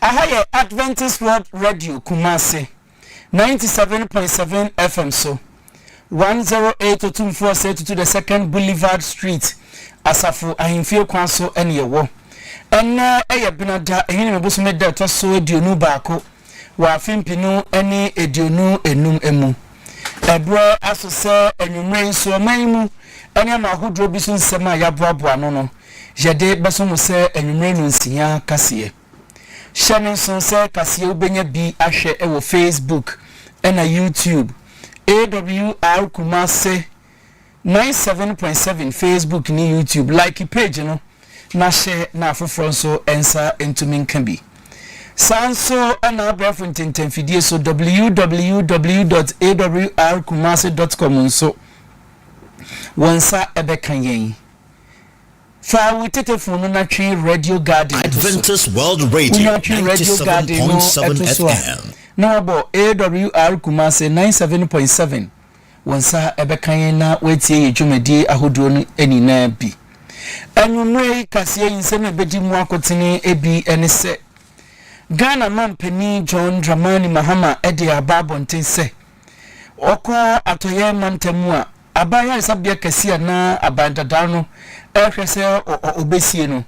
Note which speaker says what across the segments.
Speaker 1: Aha yɛ Adventist World Radio Kumasi, ninety seven point seven FM so, one zero eight Otumfuo Osei Tutu the Second Boulevard Street, Asafo Ahemfie kwan so na yɛwɔ. Ɛnnɛ yɛ Benada, Ehinima bosome da a ɛtɔ so aduonu baako wɔ afe mpenu ne aduonu nnum mu. Ɛberɛ aso sɛ anwummerɛ yi nso ɔman yi mu nneɛma ahodoɔ bi so nsɛm a yɛaboaboa ano no, yɛde bɛso mo sɛ anwummerɛ nnɔnsia kaseɛ. Hyɛ me nsono sɛ kaseɛ wobɛnya bi ahwɛ wɔ Facebook ɛna YouTube, AWR Kumase, Ninety seven point seven Facebook ne YouTube like page no na hyɛ na afoforɔ nso nsa ntumi nka bi. Saa nso na abɛɛfo ntɛntɛmfidie so www dot awr kumase dot com nso wɔn nsa bɛka yɛn. Fa wo tetefon no na twe Radio Garden to so. Adventist World
Speaker 2: Radio Wonya twe Radio Garden no 97.7 to so a FM. na wabɔ awr kumase
Speaker 1: ninety seven point seven. Wo nsa bɛka yɛn na woatie yɛn dwumadie ahodoɔ no nyinaa bi. Anwummerɛ yi kaseɛ yi nsɛm a ɛbɛdi mu akotene bi ne sɛ, Ghana Mampanin John Dramani Mahama de aba abɔnten sɛ, ɔkɔ Atɔeɛ mantam mu a, aban ayaresabea kɛseɛ anaa aban dadaa no rehwɛ sɛ ɔbɛsie no,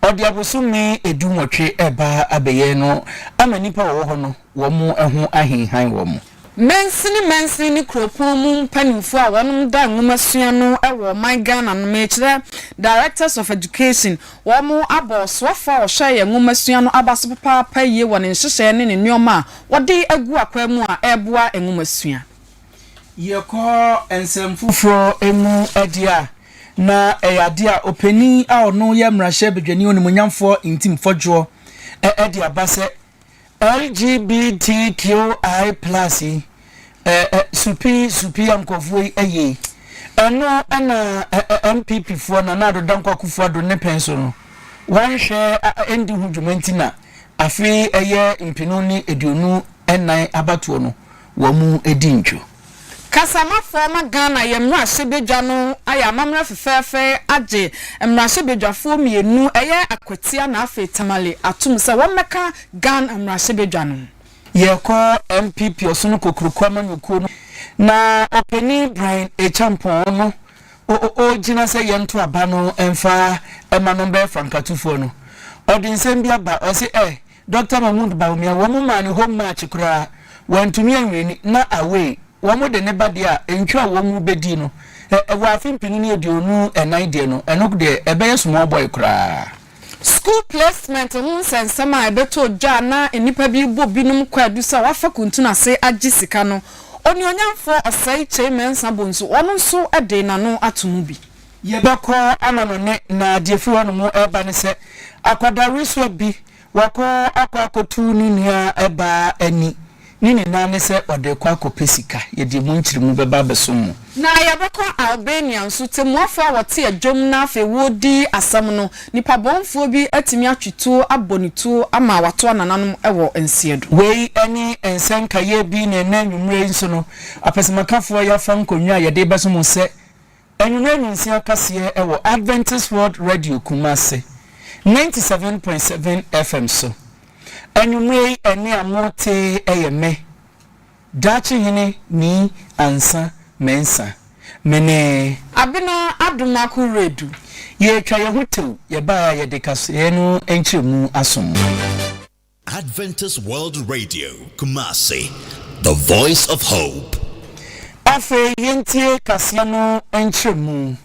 Speaker 1: Ɔde abosome dunwɔtwe reba abɛyɛ no ama nnipa a wɔwɔ hɔ no wɔn ho ahinhan wɔn. Mansini mansini ne kuropɔn mu mpanimfoɔ a wɔnom da nwomasua no wɔ ɔman Ghana no mekyerɛ Directors of Education, wɔnom abɔ ɔsoafoɔ a ɔhwɛ yɛn nwomasua no aba so papaapa yie wɔ ne nhyehyɛɛ ne ne nnoɔma a wɔde agu akwaa mu a ɛreboa nwomasua. Yɛkɔ nsɛm foforɔ mu deɛ a, na ɛyɛ adeɛ a ɔpanin a ɔno yɛ mmarahyɛbadwani onimuonyamfoɔ Ntim Fɔdwoɔ de aba sɛ LGBTQI plus yi, supi supi a nkurɔfoɔ yi yɛ yi, ɛno na NPP foɔ, Nana Addo Dankwa Akufo-Addo ne pɛn so no, wɔnhwɛ ɛndi ho dwuma nti na afe yi ɛyɛ mpenu ne aduonu nnan abatoɔ no, wɔadi ntwo. Kasamafo ma Ghana yɛ mmarahyɛbadwa no ayɛ amammerɛ fɛfɛɛfɛ agye mmarahyɛbadwafoɔ mmienu, ɛyɛ Akwatia na afei Tamale atom sɛ wɔmmɛka Ghan mmarahyɛbadwa no ho. Yɛkɔ NPP Ɔsono Kokroko amanyɔkuo no na ɔpanin Brian Acheampong no ɔɔgyina sɛ yɛnto aba no mfa ma no mbɛyɛ fankatufoɔ no, ɔde nsɛm bi aba ɔse ɛ. Doctor Mahmoud Bawumia, wɔn maa no home match koraa, wantumi anwini, na away, wɔn de ne ba deɛ a ntwa a wɔn bɛdii no, wɔ afe mpenu ne aduonu ɛnan deɛ no, ɛno deɛ ɛbɛyɛ small boy koraa. School placement ho nsɛnsɛm a ɛbɛtɔ dwa a na nnipa bi rebɔ binom kwaadu sɛ wɔafa kuntunu ase agye sika no, Onuonyamfoɔ Osei Kyei Mensah Bonsu, ɔno nso de n'ano ato mu bi. Yɛbɛkɔ ama no ne Nadia firi hɔ nom reba ne sɛ akwadaa wesoa bi wakɔ akɔ akɔtu ne nua baa ani ne nyinaa ne sɛ ɔde rekɔ akɔpɛ sika. Yɛde ɛmu nkyeremu bɛba abɛsom mo. Na yɛbɛkɔ Albania nso. Tɛmmuafoɔ a wɔte adwam na afei wɔredi asɛm no, nipa bɔnfoɔ bi atumi atwe tuo abɔ ne tuo ama wato anananom wɔ nseɛ do. Wei ne nsa nkaeɛ bi na ɛnnɛ anwummerɛ yi nso no apɛsɛmakafoɔ yɛafa nkonnwa a yɛde rebɛso mo sɛ Anwummerɛ nyinsea kaseɛ wɔ Adventist World Radio Kumasi, ninety seven point seven FM so. Anwummerɛ yi ɛnne a mortee yɛ me, Daakyehene Nii Ansa Mensa. Me ne. Abena Adom Ako Redu. Yɛretwa yɛn ho tew, yɛbaeɛ a yɛde kaseɛ no nkyerɛmu aso mo.
Speaker 2: Adventist World Radio, Kumasi, the voice of hope. Afei
Speaker 1: yɛntie kaseɛ no nkyerɛmu.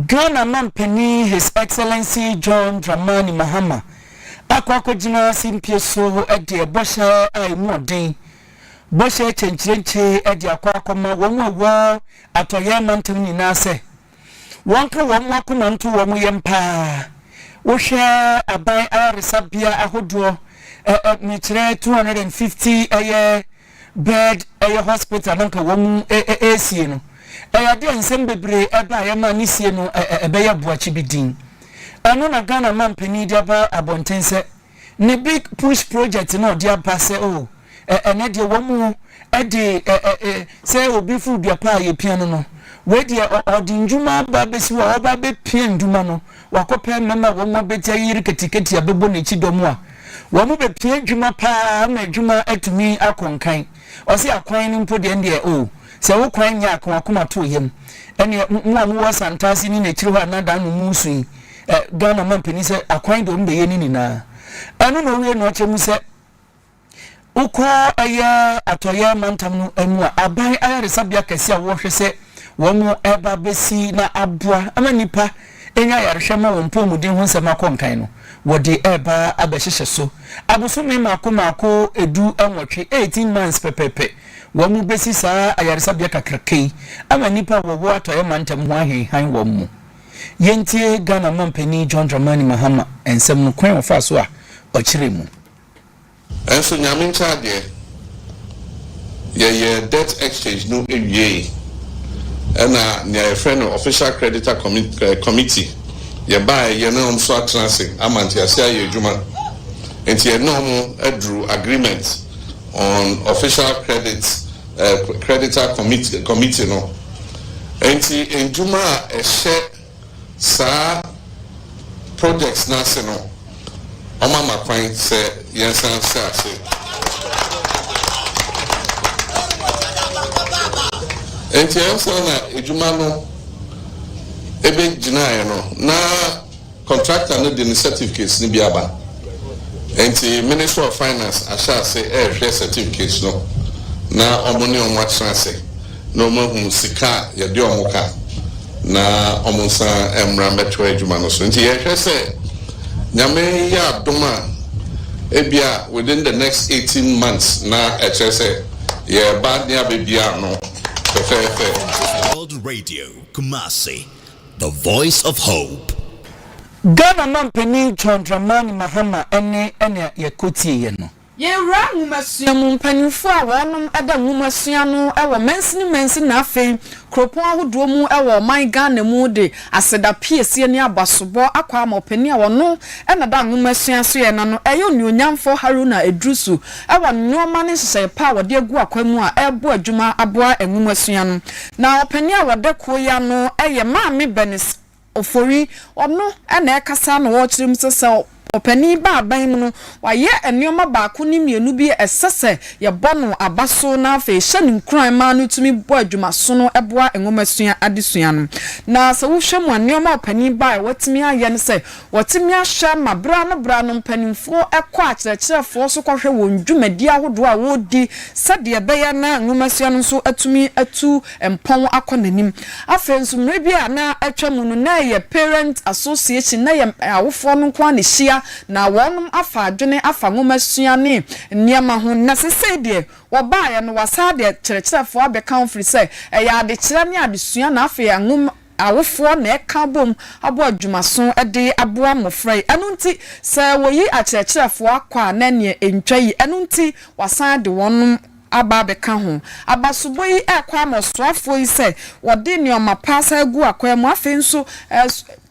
Speaker 1: Ghana Mampanin His Excellency John Dramani Mahama akɔ akɔgyina simpie so deɛ bɔhyɛ a ɛmu ɔden, bɔhyɛ kyɛnkyerɛnkyire de akɔ akɔma wɔn a wɔ Atɔeɛ mantam nyinaa sɛ, Wɔnka wɔn akoma nto wɔn yam paa. Wohwɛ aban ayaresabea ahodoɔ, ɛ ɛ mekyerɛ two hundred and fifty ɛyɛ bed ɛyɛ hospital na nka wɔn ɛ ɛ ɛresie no, ɛyɛ adeɛ a nsɛm bebree ɛbaeɛ ma ne sie no ɛ ɛ ɛbɛyɛ boakye bi dinn. Ɛno na Ghana mampanin de aba abɔnten sɛ ne Big Push project no a ɔde aba sɛ oh ɛ ɛnɛ deɛ wɔn de ɛ ɛ ɛ sɛ obi foro dua paa yɛpia no no, wei deɛ ɔ ɔde nnwuma aba abɛsi hɔ a ɔba abɛpia nnwuma no, wakɔpɛ mmarima a wɔn abɛgya ayi riketiketi abɛbɔ n'akyi dɔm a wɔn bɛpia adwuma paa ama adwuma atumi akɔ nkan. Ɔse akwan no mpo deɛ ɛndeɛ oh sɛ wo kwan nyɛ a ka w'akoma to yam. Ɛnneɛ mo a mowɔ Santase ne n'akyiri hɔ a na Dano mu resu yi, Ɛ Ghana mampanin sɛ akwan deɛ wɔbɛyɛ ne nyinaa ɛno na ɔwie no akyɛ mu sɛ wokɔ ɛyɛ atɔyɛ mantam no mu a aban ayaresabea kɛse a wɔhwɛ sɛ wɔn ɛba bɛsi na aboa ama nnipa ɛnya ayarehwɛ ma wɔn mpɔmuden ho nsɛm akɔ nkan no wɔde ɛba abɛhyehyɛ so abosome maako maako ɛdu nwɔtwe 18 months pɛpɛpɛ wɔn bɛsi saa ayaresabea kakraka yi ama nnipa a wɔwɔ atɔyɛ mantam ho ahenhan wɔn mu. Yɛntie Ghana Mampanin John Dramani Mahama nsɛm no kwan a ɔfaa so a ɔkyerɛɛ mu.
Speaker 3: Nso Nyame nkyɛn adeɛ, yɛyɛɛ debt exchange no wiee, ɛna nea yɛfrɛ no Official Creditor Committee, Committee, yɛbaeɛ, yɛne wɔn nso atena ase ama nteaseɛ ayɛ adwuma. Nti yɛne wɔn aduru agreement on official credit Creditor Committee, Committee no. Enti ndwuma a ɛhyɛ saa projects no ase no, wɔama kwan sɛ yɛnsan nhyɛ ase. Enti ansa na adwuma no ɛbɛgyinaeɛ no, na. Contractor no de ne certificates no bi aba, enti Ministry of Finance ahyɛ ase rehwɛ certificates no na wɔn ne wɔn atena ase na wɔn ahu sika a yɛde wɔn ka na wɔn nsan mmra mmɛtoa adwuma no so. Nti yɛrehwɛ sɛ Nyame yɛ adom a ebia within the next eighteen months na ɛkyerɛ sɛ yɛreba ne abɛbie ano fɛfɛɛfɛ. World
Speaker 2: Radio, Kumasi. The Voice of Hope. Ghana
Speaker 1: Manpanin John Dramani Mahama ne nea yɛkotieɛ no. Yɛn Wura Nwomasua
Speaker 4: mu mpanyinfoɔ a wɔnom da nwomasua no wɔ mansini mansi na afei kuropɔn ahodoɔ mu wɔ ɔman Ghana mu de aseda piesie ne abasobɔ akɔ ama ɔpanin a ɔno na da nwomasua soɛ na no ɛyɛ onuonyamfoɔ Haruna Iddrisu wɔ nnoɔma ne nhyehyɛeɛ pa a wɔde agu akwan mu a ɛrebo adwuma aboa nwomasua no Na ɔpanin a ɔda kuo yi ano yɛ Maame Bernice Ofori. Ɔno na ɛrekasa na ɔrekyerɛ mu sɛ, sɛ ɔpanin yi ba aban mu no, wayɛ nneɛma baako ne mmienu bi a ɛsɛ sɛ yɛbɔ no aba so na afei hyɛ no nkuran ma no tumi bɔ adwumasono boa nwomasua adesua no. Na sɛ wohwɛ mu a, nneɛma a ɔpanin ba a watumi ayɛ ne sɛ, Wɔatumi ahwɛ ma bere ano bere ano mpanimfoɔ kɔ akyerɛkyerɛfoɔ so kɔhwɛ wɔn dwumadi ahodoɔ a wɔredi sɛdeɛ ɛbɛyɛ na nwomasua no nso atumi atu mpɔn akɔ n'anim. Afei nso, mmerɛ bi a na atwa mu no, na ɛyɛ Parents Association, na ɛyɛ awofoɔ no nko ara na ɛhyia, na wɔnom afa adwene afa nwomasua ne nneɛma ho. Na seesei deɛ, wɔbaeɛ no, wɔasan de akyerɛkyerɛfoɔ abɛka ho firi sɛ, ɛyɛ adekyerɛ ne adesua na afei nwoma, Awofoɔ na ɛka bom abɔ adwumaso de aboa mmɔfra yi. Ɛno nti, sɛ wɔyi akyerɛkyerɛfoɔ akɔ a, na ɛnneɛ ɛntwa yi. Ɛno nti, wɔasan ade wɔnom aba abɛka ho. Abasobɔ yi rekɔ ama ɔsoafoɔ yi sɛ wɔde nneɛma pa asan agu akwan mu. Afei nso,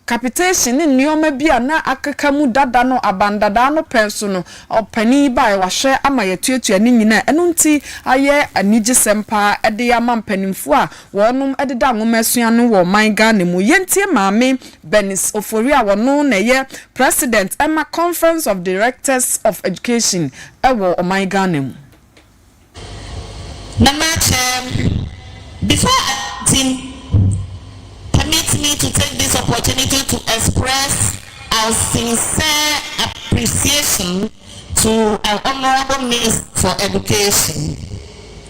Speaker 4: capitation ne nneɛma bi a na akeka mu dada no, abandadaa no pɛn so no, ɔpanin yi baeɛ, wahwɛ ama yɛatuatua ne nyinaa. Ɛno nti, ayɛ anigyesɛm pa ara de ama mpanimfoɔ a Wɔnom ɛdeda nwomasua no wɔ ɔman Ghana mu. Yɛntie Maame Bernice Ofori a wɔno na ɛyɛ President ɛma Conference of Directors of Education ɛwɔ ɔman Ghana mu.
Speaker 5: Na m'akyɛm before anything permit me to take this opportunity to express our sincere appreciation to our Honourable Minister for Education.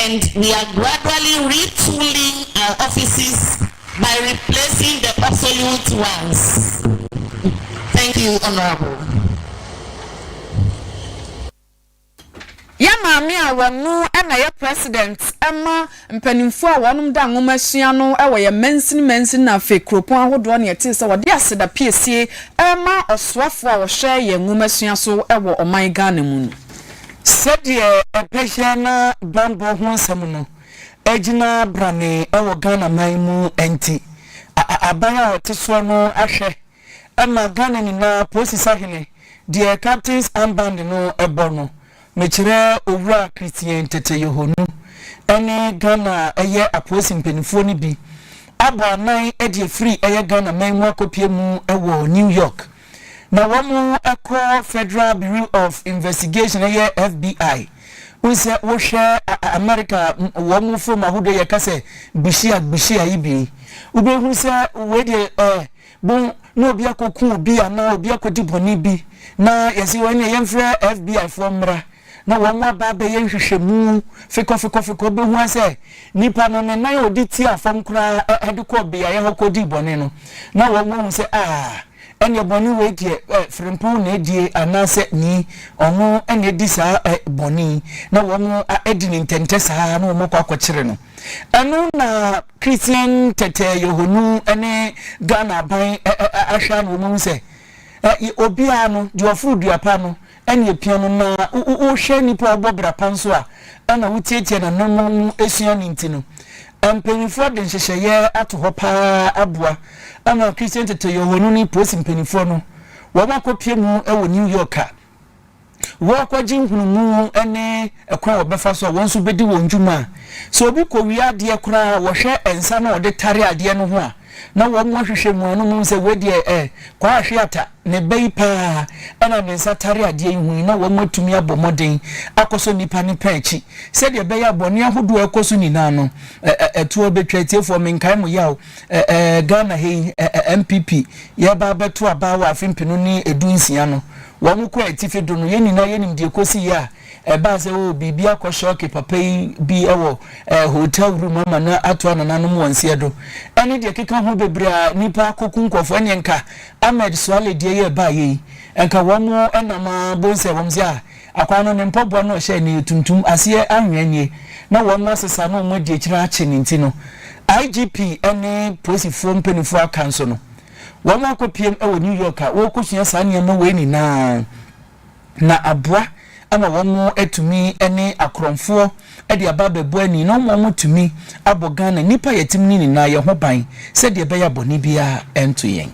Speaker 5: And we are gradually retooling our offices by replacing the obsolute ones. Thank you Honourable.
Speaker 4: Yɛ maame a wɔno na ɛyɛ president ma mpanimfoɔ a wɔnom da nwoma sua no wɔ yɛ mansini mansini na afei kuropɔn ahodoɔ na yɛtee sɛ wɔde aseda piesie rema ɔsoafoɔ a ɔhwɛ yɛ nwoma sua so wɔ ɔman Ghana mu no. Sɛdeɛ ɔbɛyɛ na bammɔ ho asɛm no agyina branee wɔ Ghana man mu nti, aban a ɔte soɔ no ahwɛ ma Ghana nyinaa Polisi Sahene deɛ Captain's Armband no bɔ no, mekyerɛ Owura Christian Tetteh Yohonu ne Ghana yɛ apolisi mpaninfoɔ no bi abɔ anan de afiri yɛ Ghana man mu akɔpue mu wɔ New York. na wɔkɔ Federal Bureau of Investigation yɛ FBI wohu sɛ wohwɛ America wɔn fom ahodoɔ yɛka sɛ bushia bushia yi bi wobɛhu sɛ wei deɛ ɛɛ eh, bo na obi akɔku obi anaa obi akɔdi bɔne bi na yɛsi wɔn ne yɛmfrɛ FBI foɔ mmra na wɔaba abɛyɛ nhwehwɛmu fekɔfekɔfekɔ behua sɛ nipa no ne nan a ɔde tiaa fam koraa de kɔɔ beaeɛ hɔ kɔdii bɔne no, na wɔahu sɛ, Ah, ɛnneɛ bɔne wei deɛ frɛmpo na adie, anaasɛ Ni, ɔno na adi saa bɔne yi, na wɔadi no ntɛntɛ saa ara, na wɔakɔ akɔkyere no. Ɛno na Christian tɛtɛɛ yɔhɔnu ne Ghana aban ahwɛ a na wɔahu sɛ, Obiara no, deɛ ɔforo dua pa no, Ɛna epia no ma wohwɛ nipa a ɔbɔ bra pa nso a, ɛna wotiatia n'anammɔn mu sua ne nti no. Mpanyimfoɔ de nhyehyɛeɛ ato hɔ pa ara aboa ama Kristian teteyɔhɔnu ne polisi mpanimfoɔ no wɔakɔpue mu wɔ New York a wɔrekɔgye nhunumu ne kwan a wɔbɛfa so a wɔn nso bɛdi wɔn dwuma a sɛ obi kɔwia adeɛ koraa a wɔhwɛ nsa no a wɔde tare adeɛ no ho a na wɔahwehwɛ mu ano hu sɛ wei deɛ ɛ, Kwaa Hweata na ɛba yi pa ara, ɛna ne nsa tare adeɛ yi ho yi, na wɔatumi abɔ mmɔden akɔsɔ nnipa no pɛ akyi, sɛdeɛ ɛbɛyɛ a bɔne ahodoɔ a ɛkɔ so nyinaa no, ɛ, ɛ, ɛtoɔ bɛtwa. Atiefoɔ, menkae mo yaw, ɛ, ɛ, Ghana ha yi, ɛ, ɛ, NPP, yɛreba abɛto aba wɔ afe mpenu ne edu nsia no, wɔn kɔ atifi do no, yɛn nyinaa yɛnim deɛ ɛkɔsiiɛ a, Ɛbaa sɛ, oh, biribi akɔ shɔɔke papa yi bi wɔ eh, hotel room ama no ato anananom wɔn seɛ do. Ɛne deɛ ɛkeka ho bebree a nnipa akoku nkurɔfoɔ. Ɛneɛ nka Ahmed Suale deɛ yi a ɛbaeɛ yi, nka wɔn nam ara bohu sɛ wɔn se ah, akwan no ne mpɔboa no a ɔhyɛɛ no yɛ tuntum, aseɛ anwea nie, na wɔn asesa na wɔn adi akyire no akye ne nti no, IGP ne polisifoɔ mpanimfoɔ aka nso no, wɔn akɔpiem wɔ New York a wɔrekɔsua saa nneɛma wei nyinaa. na aboa ama wɔatumi ne akorɔmfoɔ de aba abɛbɔ ani na ama wɔatumi abɔ Ghana nnipa a yɛte mu no nyinaa yɛn ho ban sɛdeɛ ɛbɛyɛ a bɔne biara nto yɛn.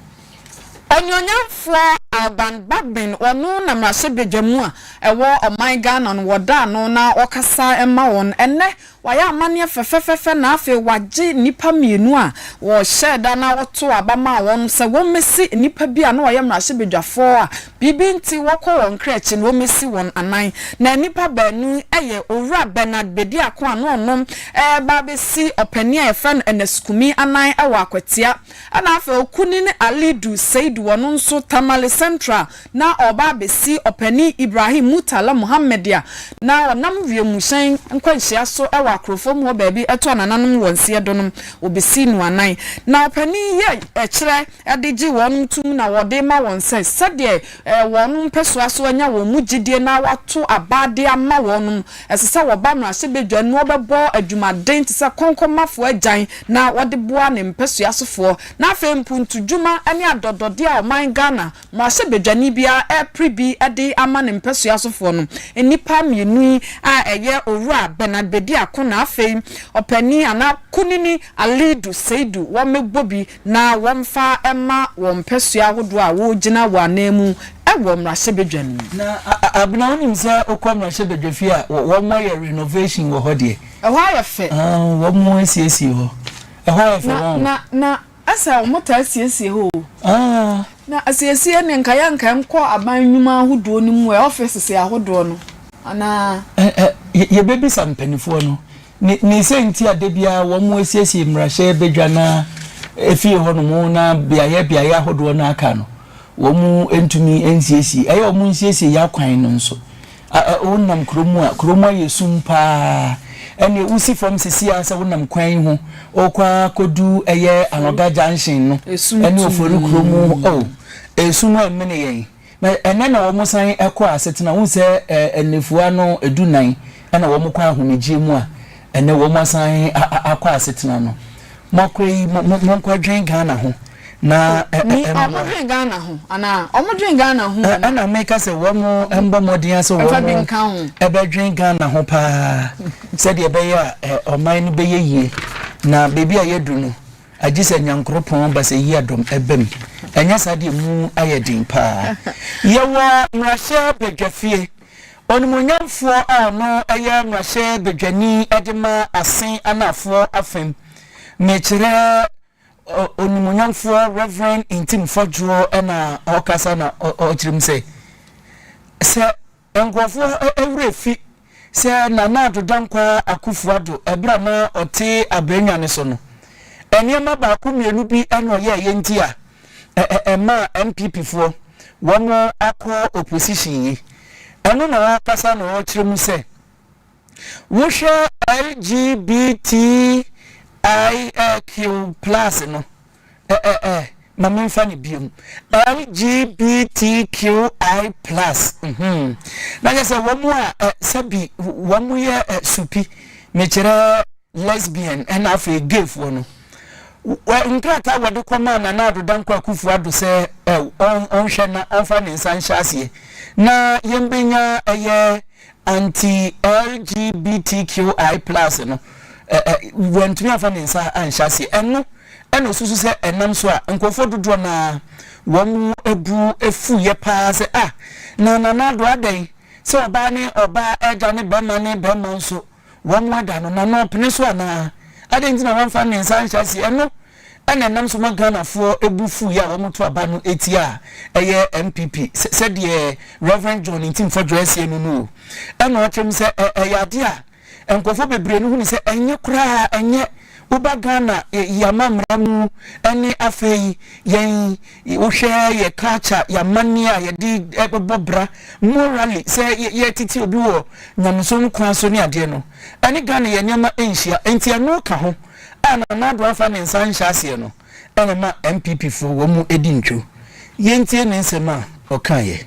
Speaker 4: Ɔnuonyamfoɔ Alban Bagbin, ɔno na mmarahyɛbadwa mu a ɛwɔ ɔman Ghana no wɔda ano na ɔkasa ma wɔn ɛnnɛ Wayɛ amanneɛ fɛfɛɛfɛ na afei wagye nnipa mmienu a wɔhyɛɛ da na wɔtoo aba maa wɔn no sɛ wɔmmɛsi nnipa bi a na wɔyɛ mmarahyɛbadwafoɔ a biribi nti wɔkɔ wɔn kra akyi no, wɔmmɛsi wɔn anan. Na nnipa baanu yɛ Owura Bernard Bediako a na ɔno reba abɛsi ɔpanin a wɔfrɛ no Ernest Kumi anan wɔ Akwatia, Ɛna afei okunini Alidu Seidu wɔno nso Tamale Central na ɔreba abesi ɔpanin Ibrahim Murtala Muhammed a na ɔnam wiemhyɛn nkwanhyia so wɔ Akorofom hɔ baabi ɛto anananom wɔn seɛ donom obesii no anan na ɔpanin yi ɛkyerɛ ɛde gye wɔnom tum na wɔde ma wɔn sɛ sɛdeɛ Ɛyɛ wɔn mpɛsoa sɛ wɔanya wɔn mu gyedie na wɔato aba de ama wɔn. Ɛsɛ sɛ wɔba no ahyɛbadwa na wɔbɛbɔ adwumaden te sɛ kɔnkɔnmafoɔ agyan na wɔde boa ne mpɛsoa sofoɔ. Na afei mpuntudwuma ne adɔdɔdeɛ a ɔman Ghana mmarahyɛbadwani biara repere bi de ama ne mpɛsoa sofoɔ no, nnipa mmienu yi a ɛyɛ Owura Bernard Bediako na afei ɔpanin anaa Kunini Alidu Seidu wɔmmɛbɔ bi. na wɔmfa mma wɔn mpasua ahodoɔ a wɔregyina wɔ ananmu wɔ mmarahyɛbadwa no mu. Na Abena wonim sɛ wokɔ mmarahyɛbadwa fie a wɔyɛ renovation wɔ hɔ deɛ. Ɛhɔ ayɛ fɛ. Wɔn asiesie hɔ. Ɛhɔ ayɛ fɛ wɔn. Na na ɛsɛ wɔn taa siesie hɔ o. Na asiesie ne nka yɛ nka nkɔ aban nnwuma ahodoɔ no mu ɛ offices ahodoɔ no anaa. Yɛbɛbisa mpaninfoɔ no Ne ne sɛ nti a da biara wɔn asiesie mmarahyɛ badwa no ara efie hɔnom na beaeɛ beaeɛ ahodoɔ no aka no wɔn ntumi nsiesie ɛyɛ wɔn nsiesie yɛ akwan no nso a a wonam kurom a kurom ayɛ sum paa ɛne wosi fam sisi a sɛ wonam kwan yi ho ɔkɔ akɔdu ɛyɛ anoga junction no ɛne ofori kurom o esum ɛmene yɛn. Na
Speaker 1: ɛnnɛ na wɔsan kɔ asetena. Wohu sɛ nnafua no dunnan na wɔkɔ ahomegyeɛ mu a, ɛnnɛ wɔasan akɔ asetena no. Moakɔ yi, monkɔdwen Ghana ho na mmoa. Wɔdwen
Speaker 4: Ghana ho anaa? Wɔdwen Ghana ho anaa? Ɛna meka sɛ
Speaker 1: wɔmmɔ mmɔden ara sɛ wɔbɛdwen Ghana ho pa ara sɛdeɛ ɛbɛyɛ a ɔman no bɛyɛ yie. Na baabi a yɛadu no, Agye sɛ Nyankoropɔn basayia dɔm bam, ɛnyɛ saa deɛ emu ayɛ den paa. Yɛwɔ Mmarahyɛ Badwafie, Onimuonyamfoɔ a ɔno yɛ Mmarahyɛ Badwani de ma Asen Anaafoɔ afam, mekyerɛ Onimuonyamfoɔ Rev. Ntim Fɔdwoɔ na ɔrekasa na ɔkyerɛ mu sɛ, sɛ Nkorɔfoɔ werɛ fi sɛ Nana Addo Dankwaa Akuffo Addo ɛberɛ a na ɔte abrannwa no so no, nneɛma baako mmienu bi na ɔyɛɛeɛ nti a ɛmaa NPP foɔ wɔn akɔ opposition yi. Ɛno na ɔɔkasa na ɔɔkyerɛ mu sɛ, wohwɛ LGBTIQ plus no, Ɛɛɛɛ ma menfa no biom LGBTQI plus mhmm na kyerɛ sɛ wɔn a ɛ sɛbi wɔn yɛ ɛ supi mekyerɛ lesbian ɛna afei gay foɔ no wɔ nkrataa wɔde kɔmaa Nana Addo Dankwa Akufo Addo sɛ ɛ ɔn ɔnhwɛ na ɔnfa ne nsa nhyɛ aseɛ na yɛn bɛnya ɛyɛ Anti-LGBTQI plus no, wantumi amfa ne nsa anhyɛ aseɛ. Ɛno na ɔsusu sɛ ɛnam so a nkurɔfoɔ dodoɔ no ara wɔn bo afuiɛ pa ara sɛ, Ah, na Nana Addo adɛn sɛ ɔbaa ne ɔbaa, agya ne barima ne barima nso Wɔada no na na ɔpene so anaa? Adɛn nti na wɔmfa Mensah anhyɛ aseɛ? Ɛno na ɛnam so ma Ghanafoɔ bu fuiɛ a wɔto aba no tia a ɛyɛ NPP sɛdeɛ Rev. John Ntimfo Adwoa asie no no o. Ɛna ɔkyerɛ mu sɛ ɛyɛ adeɛ a nkurɔfoɔ bebree no hu no sɛ ɛnyɛ koraa ɛnyɛ woba Ghana yɛn amammerɛ mu ne afei yɛn Wohwɛ yɛ culture, yɛ amanneɛ a yɛde bɛbɔ bra morally sɛ yɛretete obi wɔ nyamesom kwan so ne adeɛ no, ɛne Ghana yɛ nneɛma nhyia. Nti ɛno ka ho a Nana Addo amfa ne nsa anhyɛ aseɛ no na ɛma NPP foɔ wɔn di ntwo. Yɛntie ne nsɛm a ɔkaeɛ.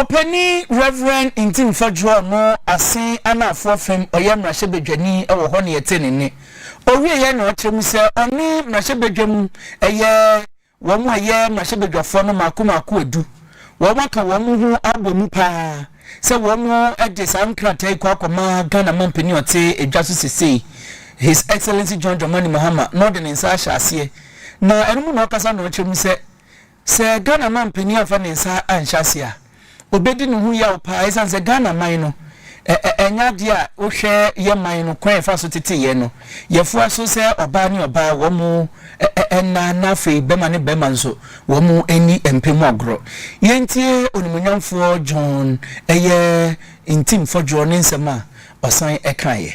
Speaker 1: Ɔpanin Rev. Ntim Fadwo a ɔno Asen Anaafoɔ fam ɔyɛ mmarahyɛbadwani wɔ hɔ na yɛtee ne nne. Ɔwieɛ na ɔkyerɛ mu sɛ ɔne mmarahyɛbadwa mu yɛ wɔn a ɛyɛ mmarahyɛbadwafoɔ no mmaako mmaako adu. Wɔn aka wɔn ho abɔ mu pa ara sɛ wɔn de saa nkrataa yi kɔ akɔma Ghana mampanin a ɔte adwa so sesei His Excellency John Dramani Mahama na ɔde ne nsa ahyɛ aseɛ na ɛno mu na ɔkasa na ɔkyerɛ mu sɛ Sɛ Ghana man panin amfa ne nsa anhyɛ aseɛ a, ɔbɛdi ne ho yaw paa ɛsiane sɛ Ghana man no, ɛnyɛ adeɛ a wohwɛ yɛ man no kwan a ɛfa so tete yɛn no, yɛfoa so sɛ ɔbaa ne ɔbaa wɔn nna na afei bɛma ne bɛma nso wɔn nni mpɛ mu agorɔ. Yɛntie Onimuonyamfoɔ John ɛyɛ Ntim Fɔdwoɔ ne nsɛm a ɔsan kaeɛ.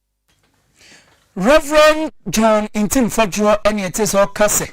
Speaker 1: Rev. John Ntim Fɔdwoɔ ɛne ɛte sɛ ɔka sɛ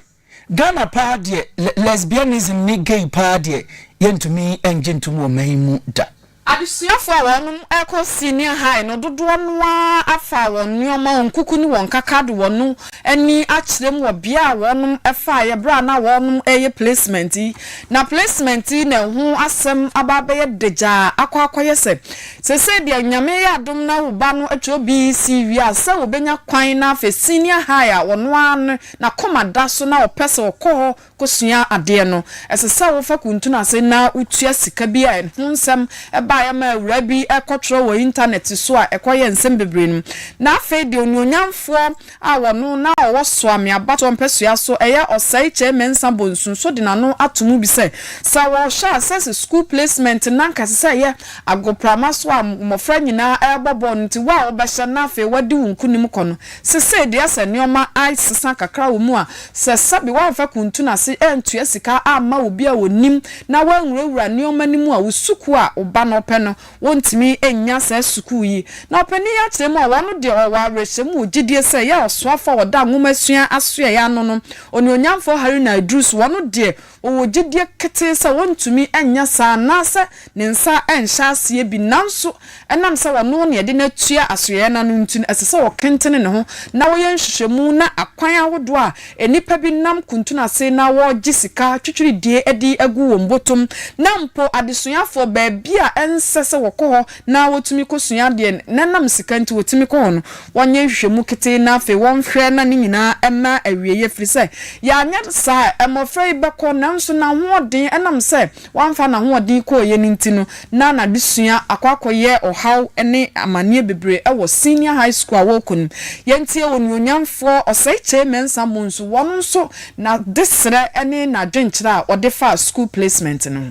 Speaker 1: Ghana paa deɛ lesbianism ne gay paa deɛ yɛntumi ngye ntom wɔ man yi mu da. Adesuafoɔ a
Speaker 4: wɔnom rekɔ senior high no dodoɔ no ara afa wɔn nnoɔma, wɔn kuku ne wɔn nkaka de wɔn ani akyerɛ mu wɔ bea a wɔnom faeɛ berɛ a na wɔnom reyɛ placement yi. Na placement yi na ɛho asɛm aba abɛyɛ dagyaa akɔ akɔyɛ sɛ Sesei deɛ Nyame yɛ adom na wo ba no atwerɛ BEC wie a, sɛ ɔbɛnya kwan na afei senior high a ɔno ara no n'akoma da so na ɔpɛ sɛ ɔkɔ hɔ kɔsua adeɛ no, ɛsɛ sɛ wofa kuntunu ase na wotua sika bi a ɛho nsɛm baeɛ ma awuraa bi kɔtwerɛ wɔ internet so a ɛkɔyɛ nsɛm bebree no mu. Na afei deɛ Onuonyamfoɔ. a wɔno na ɔwɔ Soame abatoɔ mpasua so ɛyɛ Osei Kyei Mensah Bonsu nso de n'ano ato mu bi sɛ, sɛ wɔhyɛ aseɛ sɛ sukuu placement na anka ɛsɛ sɛ ɛyɛ agoprama so a mmɔfra nyinaa rebɔ bɔɔl no nti wo a wobɛhyɛ na afei woadi wo nkonim kɔ no, sesei deɛ sɛ nneɛma asesa kakra wɔ mu a, sɛ sɛbe woamfa kuntun ase antua sika amma obi a ɔnim na woanwurawura nneɛma no mu a wo sukuu a wo ba no pɛ no Wontumi nnya saa sukuu yi. Na ɔpanyin yi akyerɛ mu a, ɔno deɛ ɔwɔ awerɛhyɛmu wɔ gyidie sɛ ɛyɛ a ɔsoafo a wɔda nwomasua asoɛe ano no, Onuonyamfoɔ Harry Naidoo-so, ɔno deɛ ɔwɔ gyidie ketee sɛ wɔntumi nyɛ saa anaasɛ ne nsa renhyɛ aseɛ bi. Nanso ɛnam sɛ ɔno na yɛde no atua asoɛeɛ no ano nti no, ɛsɛ sɛ ɔkentene ne ho na wɔyɛ nhwehwɛmu na akwan ahodoɔ a Nnipa bi nam kuntun ase na wɔregye sika twitwiridie adi agu wɔn botom, na mpo adesuafoɔ, baabi a ɛnsɛ sɛ wɔkɔ hɔ na wɔtumi kɔsua adeɛ, na ɛnam sika nti wɔtumi kɔ hɔ no, wɔnyɛ nhwehwɛmu ketee na afei wɔnhwɛ na ne nyinaa mma awieeɛ, ɛfiri sɛ yɛanyɛ saa a, mmɔfra yi bɛkɔ, nanso n'ahoɔden, ɛnam sɛ. Wamfa n'ahoɔden kɔeɛ no nti no, na n'adesua akɔ akɔyɛ ɔhaw ne amaneɛ bebree wɔ Senior High School a ɔrekɔ no mu. Yɛntie onuonyamfoɔ Osei-Kyei Mensah mmɔ nsu wɔ ɔno nso n'adesrɛ ne n'adwenkyerɛ a ɔde faa school placement no ho.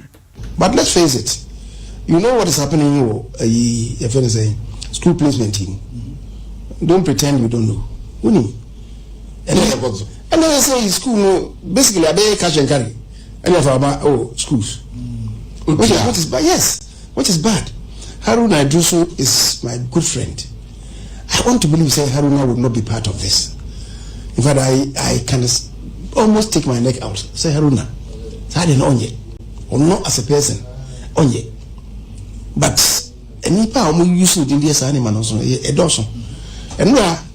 Speaker 4: But let's face
Speaker 6: it, you know what is happening wɔ ayi yɛfrɛ no sɛn, school placement yi mu. Don't pretend you don't know. Wonim. Ɛnɛ, ɛnɛ sɛ sɛ school no basically abɛyɛ cash and carry. ɛne afraba ɛwɔ schools which is, which is bad yes which is bad Haruna Iddrisu is my good friend I want to believe say Haruna would not be part of this in fact I, I can almost take my neck out say Haruna saa deɛ na ɔnyɛ ɔno as a person ɔnyɛ but nnipa a wɔn yi so din deɛ saa ne ma no nso ɛdɔɔso ɛno a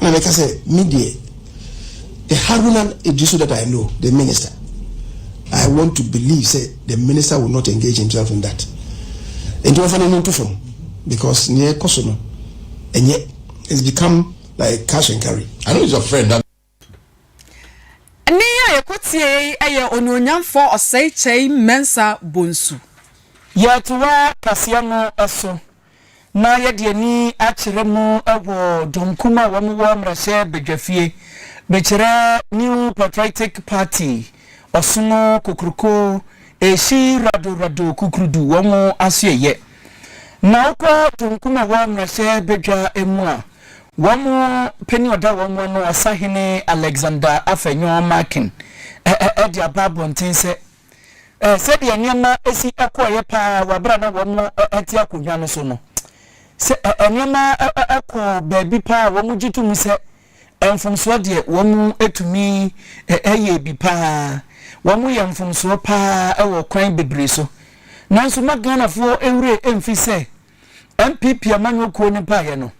Speaker 6: Ɛna meka sɛ me deɛ the Haruna Iddrisu that I know the minister I want to believe sɛ the minister will not engage himself in that nti wɔfa n'ani nto fam because neɛ ɛkɔ so no ɛnyɛ it's become like cash and carry. I know he's your friend.
Speaker 7: Nne
Speaker 4: yi a yɛkɔ tiee yi yɛ Onuonyamfoɔ Osei Kyei Mensah Bonsu. Yɛretoa
Speaker 1: kaseɛ no so na yɛde ani akyerɛ mu wɔ Donkum a wɔn wɔ mmarahyɛ badwafie bɛkyerɛ New Patriotic Party Ɔsono Kokroko Ehyi Rado Rado Kukrudu wɔn asoɛeɛ. Na wokɔ Donkum a ɛwɔ mmarahyɛ badwa mu a. Wɔn panin a ɔda wɔn ano, Ɔsahene Alexander Afenyo Markin, de aba abɔnten sɛ, Sɛdeɛ nneɛma si kɔeɛ pa ara wɔ berɛ a na wɔte akonnwa no so no, sɛ nneɛma kɔ baabi pa ara a, wɔgye to mu sɛ mfomsoɔ deɛ wɔtumi yɛ bi pa ara. Wɔyɛ mfomsoɔ pa ara wɔ kwan bebree so. Nanso na Ghanafoɔ werɛ mfi sɛ, NPP amanyɔkuo no baeɛ no,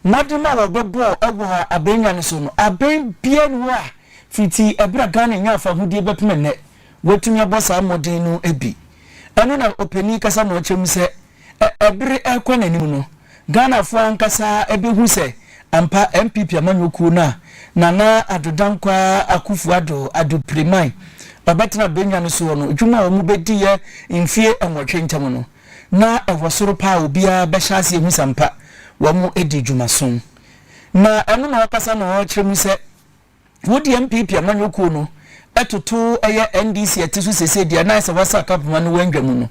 Speaker 1: mmɔden a wɔbɛbɔɔ wɔ abɛn nnan no so no, abɛn biara nni hɔ a fiti ɛberɛ a Ghana nyaa fahodie bɛpem ɛnnɛ, wɔatumi abɔ saa mmɔden no bi. Ɛno na ɔpanin kasa ma ɔkyerɛ mu sɛ, ɛbere rekɔ n'anim no, Ghanafoɔ ankasa bɛhu sɛ ampa NPP amanyɔkuo no a Nana Addo Dankwa Akuffo Addo, Addo Piriman, ɔbɛtena abɛn nnan no soɔ no, dwuma a wɔbɛdiiɛ mfeɛ nwɔtwe ntam no, na ɛwɔ soro paa a obiara bɛhyɛ ase ahu sɛ ampa wɔadi dwumaso. Na ɛno na ɔkasa no ɔrekyerɛ mu sɛ, Wo deɛ NPP amanyɔ kuo no toto ɛyɛ NDC a ɛte so seesei deɛ na ayɛ sɛ wɔasa akapoma no wɔ ndwa mu no.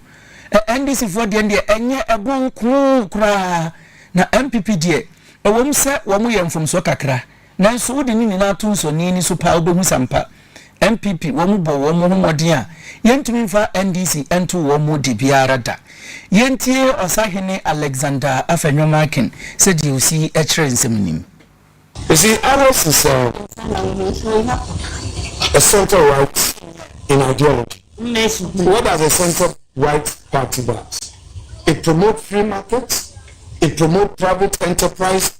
Speaker 1: NDC foɔ deɛn deɛ ɛnyɛ ɛbɔ nko koraa na NPP deɛ ɛwɔ mu sɛ wɔyɛ mfomsoɔ kakra Nanso wode ne nyinaa to nsɔnee ani so paa wobɛhu sa mpa. NPP wɔn bɔ wɔn ho mmɔden a yɛntumi mfa NDC nto wɔn mu de biara da. Yɛntie Ɔsahene Alexander Afenyo Akin sɛdeɛ ɔsi kyerɛ nsɛm nim. You see,
Speaker 6: others is a, a center right in ideology. What does a center right party does? It promotes free market, it promotes private enterprise,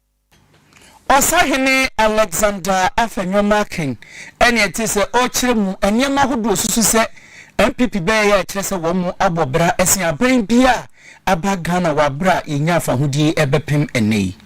Speaker 1: Ɔsahene Alexander Afenyo Markin ne ɛte sɛ ɔrekyerɛ mu nneɛma ahodoɔ susu sɛ NPP bɛyɛ yɛ a ɛkyerɛ sɛ wɔn abɔ bra sen aban biara a aba Ghana wɔ aberɛ a yɛnya afahodie bɛpem ɛnnɛ yi.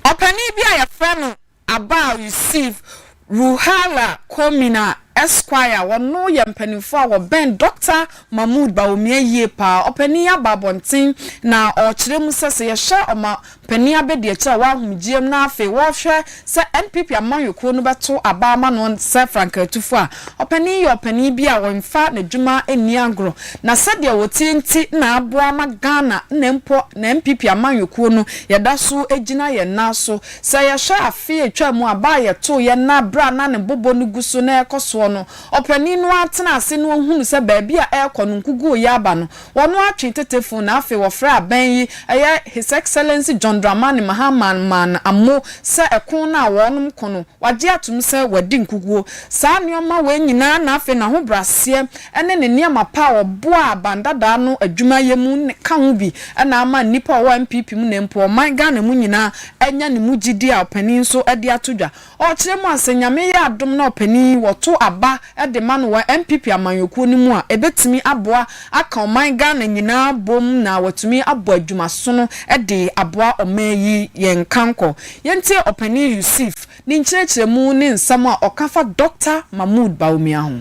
Speaker 1: Ɔpanin bi
Speaker 4: a yɛfrɛ no Abao Yusuf Ruhela Quormina, Esquire, a wɔno yɛ mpaninfoɔ a wɔbɛn Dɔkta Mahmoud Bawumia yie paa. Ɔpanin yi aba abɔnten na ɔrekyerɛ mu sɛ, sɛ yɛhwɛ Ɔmampanin abɛdiakyire a wɔahomgyeɛm na afei wɔrehwɛ sɛ NPP amanyɔkuo no bɛto aba ama no sɛ frankaatufoɔ a, ɔpanin yi yɛ ɔpanin bi a ɔmfa n'adwuma nni agorɔ na sɛdeɛ ɔteɛ nti na aboa ama Ghana na mpo na NPP amanyɔkuo no yɛda so gyina yɛn nan so Sɛ yɛhwɛ afe a etwaa mu a, ba a yɛtooeɛ na berɛ a na ne bobɔ no gu so na ɛrekɔ soɔ no, ɔpanin no ara tenaa ase na ɔhunuu sɛ baabi a ɛrekɔ no, nkuguo reyɛ aba no, wɔno ara twee tete fon na afei wɔfrɛɛ abɛn yi, ɛyɛ His Excellency John Dramani Mahama Man Ammo, sɛ ɛko no a wɔnom ko no, wɔagye atom sɛ wɔadi nkuguo. Saa nneɛma wei nyinaa na afei n'ahobrɛaseɛ ne ne nneɛma pa a ɔboaa ban dadaa no adwuma yɛ mu ka ho bi na ama nnipa a wɔwɔ NPP mu na mpo ɔman Ghana mu nyinaa anya ne mu gyidi a ɔpanin nso de ato dwa. Ɔrekyerɛ mu a, sɛ Nyame yɛ adom na ɔpanin yi wɔto aba de ma no wɔ NPP amanyɔkuo no mu a, ɛbɛtumi aboa aka ɔman Ghana nyinaa bom na watumi abɔ adwumasono de aboa ɔman yi. Yɛn nkankɔ. Yɛntie ɔpanin Yusif ne nkyerɛkyerɛmu ne nsɛm a ɔka fa Dɔkta Mahmood Bawumia ho.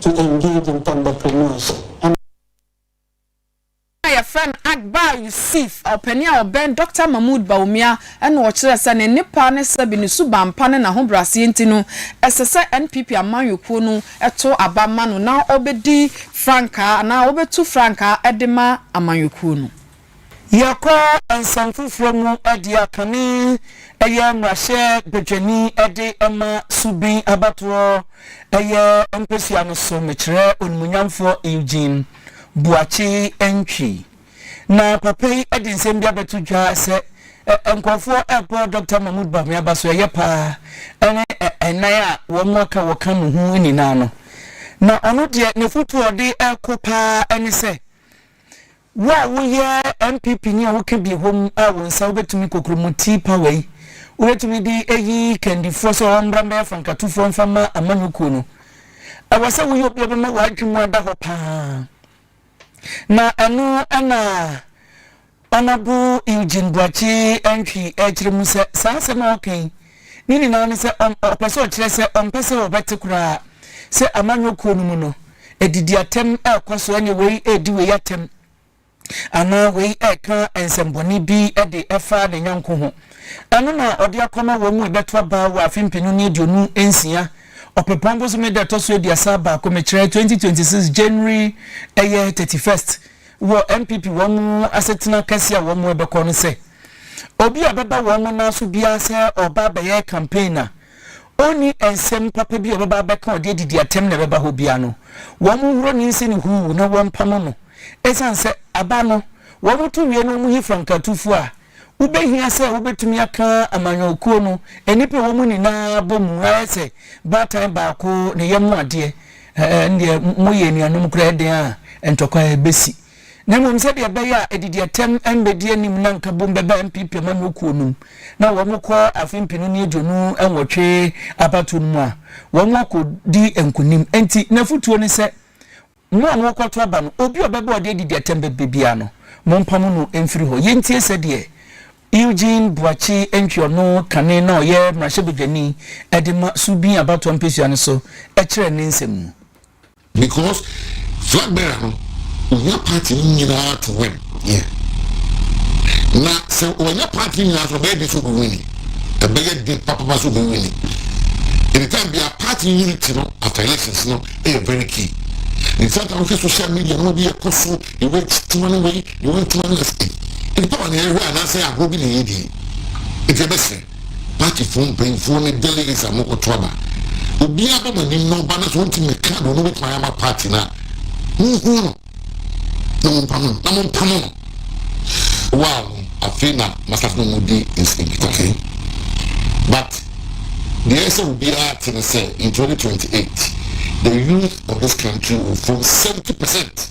Speaker 7: to engage ntɛmbɔkɔmmɔɔso ama. Ɔpanyin a wɔfrɛ
Speaker 4: no Akbar Yusuf, ɔpanyin a ɔbɛn Dɔkta Mahmoud Bawumia na ɔkyerɛɛ sɛ ne nnepa ne sɛbe ne suban pa ne n'ahobraseɛ nti no, ɛsɛ sɛ NPP amanyɔkuo no to aba ma no na ɔbɛdi frankaa anaa ɔbɛtu frankaa de ma amanyɔkuo no. Yɛkɔ
Speaker 1: nsɛm foforɔ mu dea kane yɛ mmarahyɛ badwani de ma Subin abatoɔ yɛ mpesua no so mekyerɛ onimunyamfoɔ Eugene Boakye Antwi. Na papa yi de nsɛm bi abɛto dwa sɛ nkurɔfoɔ rebɔ Dɔkta Mahmood Bawumia ba so ɛyɛ pa ara ne ɛnan a wɔn aka wɔ ka ne ho nyinaa no. Na ɔno deɛ n'afotuo a ɔde rekɔ pa ara ne sɛ Wo a woyɛ NPP ni a woka bi wɔ mu a wo nsa wobɛtumi kokromoti power yi wobɛtumi de ayi kandifoɔ sɛ wɔmmra mmɛyɛ fankatofoɔ mfa mma amanyɔkuo no. Ɛwɔ sɛ woyɛ obi a ɔbɛma w'adwene mu ada hɔ pa ara. Na ɛno na Honourable Eugene Boakye Antwi rekyerɛ mu sɛ saa asɛm a woka yi Ne nyinaa ne sɛ ɔn, ɔpɛ sɛ ɔkyerɛ sɛ ɔmpɛ sɛ wɔbɛte koraa sɛ amanyɔ kuo no mu no, adidiatɛm rekɔ so ne wei redi wei atɛm anaa wei reka nsɛmbɔne bi de fa ne nyɔnko ho. Ɛno na ɔde akɔma wɔn mu ɛbɛto aba wɔ afe mpenu ne aduonu nsia, ɔpepɔn bosome da ɛtɔ so aduasa baako, mekyerɛ, 2026 January ɛyɛ thirty first, wɔ NPP wɔn asetena kɛse a wɔn bɛkɔ no sɛ. Obi a ɔbɛba wɔn mo nan so biara sɛ ɔreba abɛyɛ campaign a, ɔnni nsɛm papa bi a ɔbɛba abɛka a ɔde adidi atɛm na ɛbɛba hɔ biara no, wɔnhoro ne nse no huuw na wɔmpamo no. Esiane sɛ aba no, wɔto wie na wɔyi frankatufo a, wobehia sɛ wobetumi aka amanyɔkuo no nnipa a ɛwɔ mu nyinaa abɔ mu ayɛ sɛ baatan baako, ne yam adeɛ. Ɛnneɛ moyɛ anuanom koraa, ɛdeɛn a ntɔkwa besi? na mmom sɛdeɛ ɛbɛyɛ a adidiatɛm mmɛdi anim na nka bom bɛba MP pɛ ma no kuo nom na wɔn kɔ afe mpenu ne aduonu nwɔtwe abatoɔ no mu a wɔn akɔ di nkunim nti nafutuo ne sɛ mo a mo kɔto aba no obi ɔbɛba ɔde adidiatɛm bɛbɛ biara no mo mpamo no mfiri hɔ yɛntie sɛdeɛ Eugene Boakye Antwi ɔno kane na ɔyɛ mmarahyɛbadwani ɛde ma Subin abatoɔ mpesua no so ɛkyerɛ ne nsɛm mu. Because
Speaker 8: flag bearer no ohia party no nyinaa to win. Yeah. Na sɛ wɔnyɛ party no nyinaa so ɔbɛyɛ de so obi wini. Ɛbɛyɛ de papapa so obi wini. Anytime bi a party unity no after elections no ɛyɛ very key. In fact I wohwɛ social media no bi ɛkɔ so ewe tuma no wei ewe tuma no ɛsɛ. Nipa wɔ na ɛhwɛ anaasɛ agorɔ bi na ɛyɛ die. Nti ɛbɛsɛ. Partyfoɔ mpanyinfoɔ ne delegates a moakɔto aba. Obiara bɔ moanim na ɔba na sɛ ɔntumi mmɛka deɛ ɔno bɛtumi ayɛ ama party no a, monhunu no na mompamo no na mompamo no. Wow no, afei na masafo no mu di nkitaho. But deɛ ɛsɛ sɛ obiara te ne sɛ in 2028 the youth of this country will form 70 percent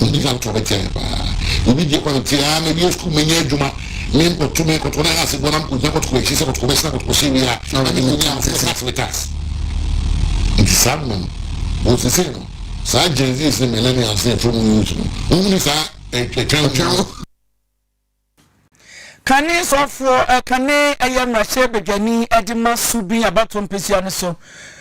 Speaker 8: Yɛn gyina ntoɔ bɛtia yɛn paa. Yɛbi gye kwan tee aa mɛwie sukuu mɛnya adwuma ne nkɔto me nkɔto na ase boɔ na me kɔgyina kɔtokɔ akyi sɛ kɔtokɔ bɛsena kɔtokɔ hyɛ wie a na me kɔnya me sɛ tax me tax. Nti saa mma no wɔ sesei no saa Gen Zs ne Millennials ne ɛfam youth no wɔhunu saa ɛtwa ho.
Speaker 1: Kane sɔfoɔ, Kane yɛ mmarahyɛ badwani de ma Subin abatoɔ mpesua no so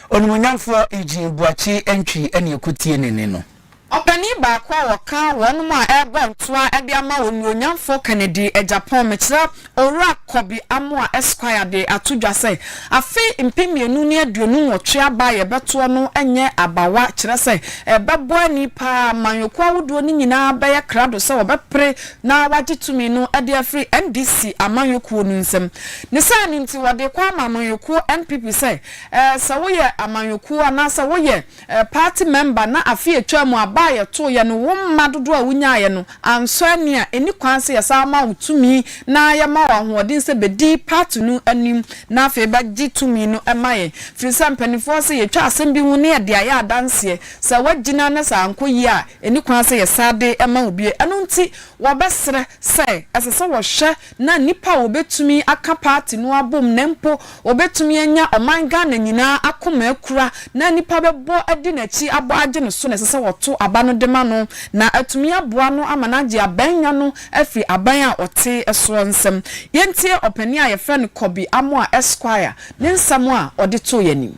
Speaker 1: onimuonyamfoɔ Eugene Boakye Antwi ne Ɛkɔtienene no. Ɔpanin baako
Speaker 4: a ɔka wɔnom a ɛrebɔ ntoa de ama onimuonyamfoɔ Kennedy Agyapong Mekyerɛ Owura Kobi Amoah Esquire de ato dwa sɛ afe mpem mmienu ne aduonu nwɔtwe aba a yɛbɛtoɔ no nyɛ abawa kyerɛ sɛ ɛbɛbɔ ani paa ma nnwokuo ahodoɔ no nyinaa bɛyɛ krado sɛ wɔbɛpere na wɔagye tumi no de afiri NDC amanyɔkuo no nsam. Ne saa no nti, wɔde rekɔ ama amanyɔkuo NPP sɛ sɛ woyɛ amanyɔkuo anaasɛ woyɛ party mɛmba na afe a ɛtwaa mu aba a yɛtoeɛ no wo mma dodoɔ a wonyaeɛ no ansɔ ani a, ɛnni kwan sɛ yɛsan ma wo tumi na yɛma wo ahoɔden sɛ bɛdi party no anim na afei bɛgye tumi no ma yɛn. Firi sɛ mpanimfoɔ se yɛtwa asɛm bi ho na yɛde ayɛ adanseɛ. Sɛ woagyina na sɛ ankɔ yie a, Enni kwan sɛ yɛsan de ma obi. Ɛno nti, wɔbɛsrɛ sɛ ɛsɛ sɛ wɔhwɛ na nnipa a wɔbetumi aka paati no abom na mpo wɔbetumi anya ɔman Ghana nyinaa akoma akura na nnipa bɛbɔ adi n'akyi abɔ agye no so na ɛsɛ sɛ wɔto aba no de ma no na atumi aboa no ama no agye abanya no afiri aban a ɔte soɔ nsam. Yɛntie ɔpanin a yɛfrɛ no Kobe Amoah Esquire ne nsɛm a ɔde too yɛn anim.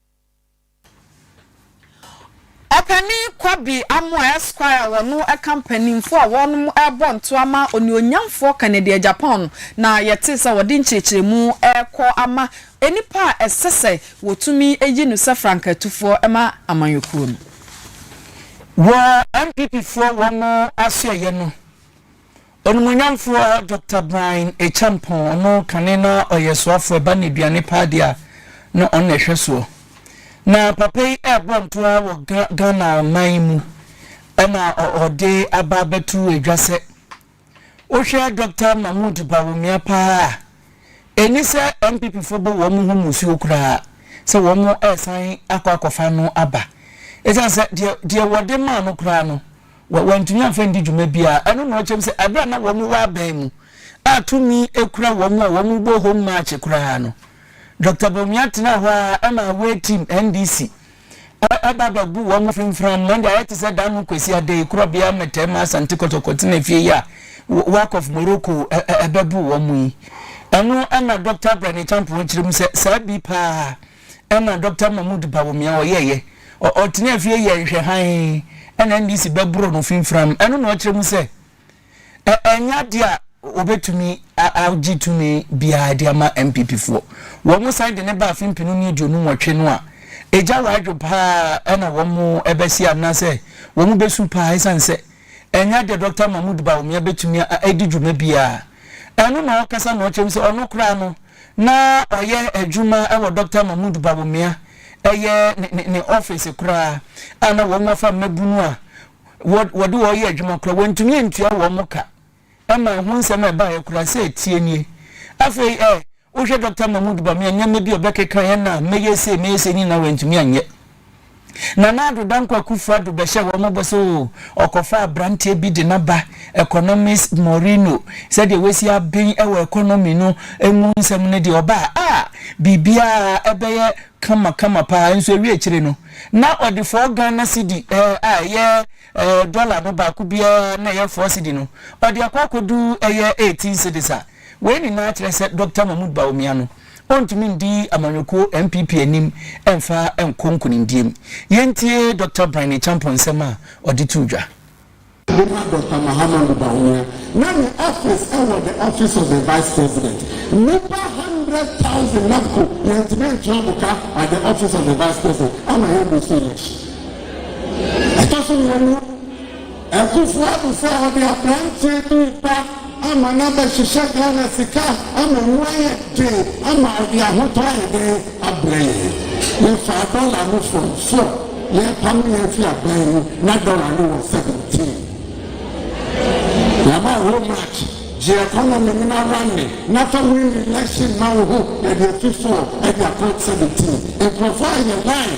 Speaker 4: Ɔpanyin Kwabby Amoah Esquire a ɔno ɛka mpanyinfoɔ a wɔnom ɛrebɔ ntoa ma Onuonyamfoɔ Kennedy Agyapong no na yɛtee sɛ ɔde nkyerɛkyerɛmu ɛrekɔ ama nnipa a ɛsɛ sɛ wɔtumi yi no sɛ frankatufoɔ ɛma amanyɔkuo no wɔ NPP foɔ wɔn asoɛeɛ no. Onimuonyamfoɔ Doctor Brian Acheampong, ɔno kane na ɔyɛ soafoɔ ba nneduane paa deɛ a na ɔno na ɛhwɛ soɔ. Na papa yi ɛɛbɔ nto ara wɔ Ga Ghana man yi mu ɛna ɔ ɔde aba abɛto edwa sɛ wohwɛ Doctor Mahmood Bawumia paa a ɛnni sɛ NPP foɔ bɔ wɔn ho musuo koraa sɛ wɔn ɛɛsan akɔ akɔfa no aba ɛsiane sɛ deɛ deɛ wɔde maa no koraa no wɔ, wɔantumi amfa andi dwuma biara. Ɛno na ɔkyerɛ mu sɛ bere a na wɔn wɔ aban mu a tumi kura wɔn a wɔbɔ Home March koraa no, Dɔkta Bawumia tenaa hɔ ara ma away team NDC ɛba bɛbu wɔn fi mframa. Ɛnde ayɛ te sɛ da no Kwasi Adei, Korɔbea Mmɛtɛɛ ma Asante Kɔtɔkɔ tena fie yi a Wak of Morocco ɛbɛbu wɔn yi. Ɛno na Dɔkta Brane Acheampong kyerɛ mu sɛ saa bi paa. Ɛna Dɔkta Mahmood Bawumia a ɔyɛeɛ, ɔ, ɔtenaa fie yɛɛ nhwɛ hann, ɛna NDC bɛboroo no finfiram. Ɛno na ɔkyerɛ mu sɛ, ɛ, ɛnyɛ adeɛ a wɔbɛtumi a, agye tumi biara de ama NPPfoɔ. Wɔsan de no baa afe mpenu ne aduonu nwɔtwe no a, egya wɔ adwo pa ara, ɛna wɔbɛsi anaasɛ wɔbɛsu pa ara, ɛsiane sɛ Ɛnyɛ deɛ Dɔkta Mahmoud Bawumia bɛtumi a adi dwuma biara. Ɛno na ɔkasa na ɔkyerɛ mu sɛ ɔno koraa no, na ɔyɛ adwuma wɔ Dɔkta Mahmoud Bawumia, ɛyɛ ne ne ne ɔfese koraa, a na wɔn afa mmabunu a wɔde wɔn yɛ adwuma koraa, wɔntumi ntua wɔn ka. Ɛma ɛho nsɛm a ɛbaeɛ koraa sɛ ɛteɛ nie. Afei ɛ, wohwɛ Dɔkta Mahmood Bawumia nneɛma bi a ɔbɛkeka yɛn a mɛyɛ sei, mɛyɛ sei nyinaa wantumi anyɛ. Nana Addo Dankwa Kuffo Addo bɛhyɛɛ wɔn bɔ sɛ oo, ɔkɔfa aberanteɛ bi de no aba, economist Moreno, sɛdeɛ wasi aben wɔ economy no mu nsɛm no deɛ ɔba a, ah, biribiara ɛbɛyɛ kama kama paa, nso ɛwiekyire no, na ɔde four Ghana cedi ɛ, a ɛyɛ Ɛɛ, dɔla no baako biara na ɛyɛ four cedi no, ɔde akɔ akɔdu ɛyɛ eighteen cedis a. Wei nyinaa kyerɛ sɛ Dɔkta Mahmood Bawumia no, ɔntumi ndi amanyɔkuo NPP anim mfa nkɔ nkunimdie mu. Yɛntie Dɔkta Bryne Acheampong nsɛm a ɔde too dwa. Momma
Speaker 9: Dɔkta Mahamudu Bawumia na ne office ɛwɔ the office of the vice president. Nnipa hundred thousand na mpo yɛntumi ntua mo ka at the office of the vice president ama yɛn bɔ so election. Ɛtɔ so mmienu, Akufo-Addo sɛ ɔde aberanteɛ bi reba ama no abɛhyehyɛ Ghana sika ama mu ayɛ den ama ɔde ahotɔ ayɛ dɛn abrɛ yɛn. Yɛfaa dɔla no fam so a yɛrepamo yɛn afi aban mu, na dɔla no wɔ seventeen. Yɛama hoo March, gye economy no na runne na fa win election ma wo ho, yɛde afi four de akɔ seventeen. Nkurɔfoɔ ayɛ line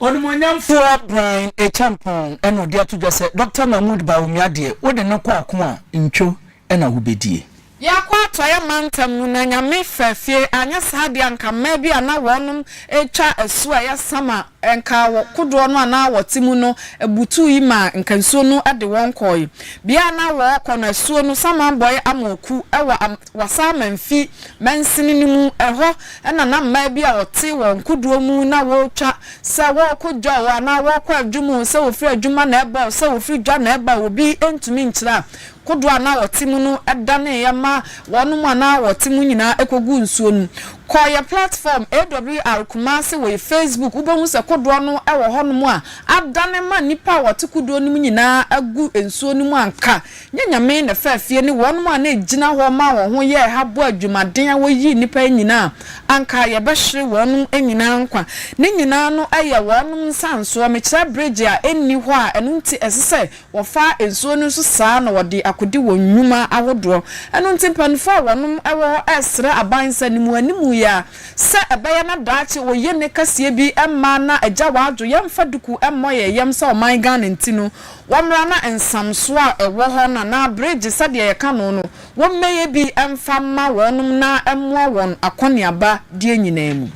Speaker 1: Onimuonyamfoɔ Brian Acheampong na ɔde ato dwa sɛ, Dɔkta Mahmood Bawumia deɛ, wode no kɔ ako a, ntwo na wobɛdie. Yɛakɔ atɔeɛ
Speaker 4: mantam mu na Nyame faa fie, anyɛ saa deɛ anka mmaa bi a na wɔnom retwa asuo a ɛyɛ sama a nka wɔ kodoɔ no a na wɔte mu no butuu yi maa nka nsuo no de wɔn kɔɔe. Bea a na wɔrekɔ no asuo no samanbɔeɛ amoku wɔ Wɔsan ma mfi mansini no mu. Ɛhɔ na na mmaa bi a wɔte wɔn kodoɔ mu na wɔretwa sɛ wɔrekɔ dwa oo anaa wɔrekɔ adwuma oo, sɛ wɔfiri adwuma na ɛreba oo, sɛ wɔfiri dwa na ɛreba oo, obi ntumi nkyerɛ a, kodoɔ a na wɔte mu no daneeɛ ma wɔnom a na wɔte mu nyinaa kɔguu nsuo no mu. Kɔ yɛn platform AWR Kumasi wɔ yɛn Facebook, wobɛhu sɛ kodoɔ no wɔ hɔnom a adane ma nnipa a wɔte kodoɔ no mu nyinaa agu nsuo no mu anka. Nyɛ Nyame na faa fie ne wɔnom a na ɛgyina hɔ maa wɔn ho yɛɛ ha boa adwumaden a wɔyii nnipa yi nyinaa a, anka yɛbɛhwere wɔnom nyinaa nkwa. Ne nyinaa no yɛ wɔnom nsansoɔ. Mekyerɛ bregye a ɛnni hɔ a ɛno nti ɛse sɛ wɔfa nsuo no nso saa na wɔde akodi wɔn nnwuma ahodoɔ. Ɛno nti mpaninfoɔ a wɔnom wɔ hɔ ɛsrɛ aban sɛ ne mu animu yɛ a sɛ ɛbɛyɛ na daakye oyenɛ kɛseɛ bi mmaa na agya wadwo yɛmfa duku mmɔ yɛn yam sɛ ɔman Ghana nti no Wɔmmra na nsamsoɔ a ɛwɔ hɔ no anaa aberegye sɛdeɛ yɛka no no, wɔmmɛyɛ bi mfa mma wɔnom na ɛmmoa wɔn akɔneaba deɛ nyinaa mu.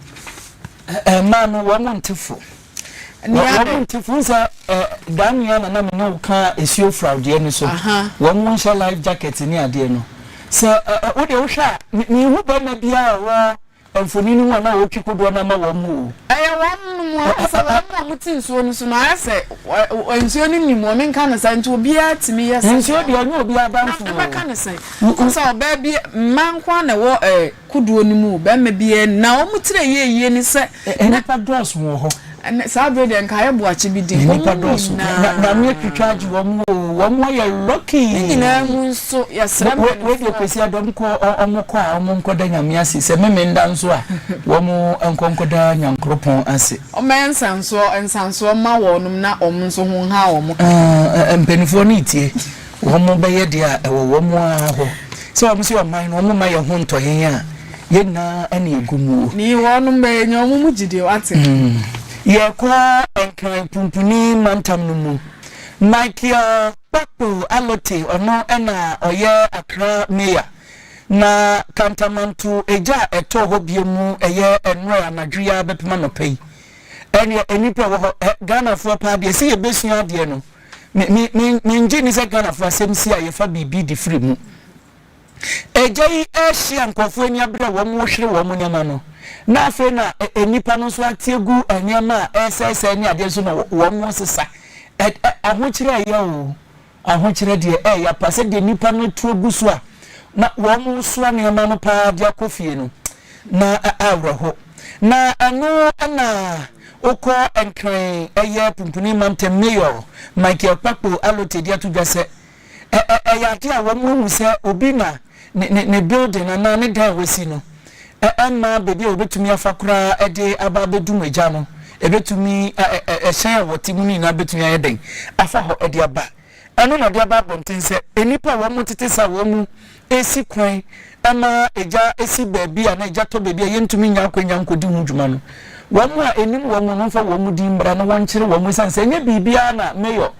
Speaker 4: Mmaa
Speaker 1: no, wɔn mu nte fo. Nea wɔn mu nte fo, wohu sɛ daa nua na na me ne wo ka asuo furaw deɛ no so, wɔn mu nhyɛ life jacket ne adeɛ no. Sɛ wo deɛ wohwɛ a, menhu barima biara a ɔwɔ. mfonini mu anaa wɔretwi kodoɔ no ama wɔn o. Ɛyɛ wɔn nom
Speaker 4: ankasa, wɔn a wɔte nsuo no so no, ayɛ sɛ nsuo no nnim wɔn, menka no saa, nti obiara tumi yɛ sɛdeɛ. Nsuo deɛ ɛnyɛ obiara
Speaker 1: bantoɔ. Na mɛka no sɛn?
Speaker 4: Ɛfiri sɛ ɔbaa bi, mmaa nko ara na ɛwɔ kodoɔ no mu o, barima biara nni mu. Na wɔn tire yɛ yie ne sɛ. Nnipa dɔɔso
Speaker 1: wɔ hɔ. Ɛnɛ, saa bere deɛ nka
Speaker 4: ayɛ boakye bi den. Wɔn mu nyinaa.
Speaker 1: Na wɔn atwitwa agye wɔn o. Wɔn ayɛ lucky. Ne nyinaa mu nso,
Speaker 4: yɛsrɛ mpanimfoɔ. Wei deɛ Kwesi Adam
Speaker 1: kɔ, wɔn kɔ a wɔn nkɔda Nyame ase. Sɛ Memenda nso a, wɔn nkɔ nkɔda Nyankoropɔn ase. Wɔmmɛyɛ nsansoɔ
Speaker 4: nsansoɔ mma wɔnom na wɔn nso ho nha wɔn kakra. Mpanimfoɔ no
Speaker 1: retie. wɔn bɛyɛ deɛ a ɛwɔ wɔn ara hɔ, sɛ wɔn nso yɛ ɔman no, wɔn mma yɛn ho ntɔ yɛn a, yɛn nyinaa na yɛgu mu o. Ne wɔn mma yɛ
Speaker 4: nya wɔn mu gyidie, woate. Yɛrekɔ
Speaker 1: Nkran Pumpuni Mantam no mu. Michael Kpakpo Allote, ɔno na ɔyɛ Accra Mayor, na Kantamanto egya a ɛtɔɔ hɔ bio mu ɛyɛ ɛnora anadwo yi ara bɛpem anɔpa yi. Ɛneɛ nnipa ɛwɔ hɔ, Ghanafoɔ paa deɛ ɛsɛ yɛbɛsua adeɛ no. Me me me mengye nni sɛ Ghanafoɔ asɛm si a yɛfa biribi de firi mu. Agya yi ɛrehye a nkurɔfoɔ ani abere a wɔrehwere wɔn nneɛma no, na afei na nnipa no nso ate agu nneɛma a ɛresɛesɛe ne adeɛ nso na wɔresesa. Ɛ ɛ ahokyerɛ ɛyɛ o, ahokyerɛ deɛ ɛyɛ apa sɛdeɛ nnipa no atu agu so a na wɔresoa nneɛma no paa de akɔ fie no, na awerɛho. Na ɛno na Wokɔ Nkran ɛyɛ Punpuni Mantam Mayor Michael Kpakpo Allotey de ato dwa sɛ, ɛyɛ adeɛ a wɔn ahu sɛ obi na ne building anaa ne dan a wasi no mma baabi a wɔbɛtumi afa koraa de aba abɛdum egya no, ɛbɛtumi, hyɛn a wɔte mu no nyinaa bɛtumi ayɛ dɛn afa hɔ de aba. Ɛno na ɔde aba abɔnten sɛ nnipa a wɔtete saa wɔ mu resi kwan ma gya si baabi a na gya tɔ baabi a yentumi nnya akwannya nkodi ho dwuma no, wɔn a ennim wɔn no mfa wɔn din mmra na wɔnkyere wɔn esiane sɛ ɛnyɛ biribiara na Mayor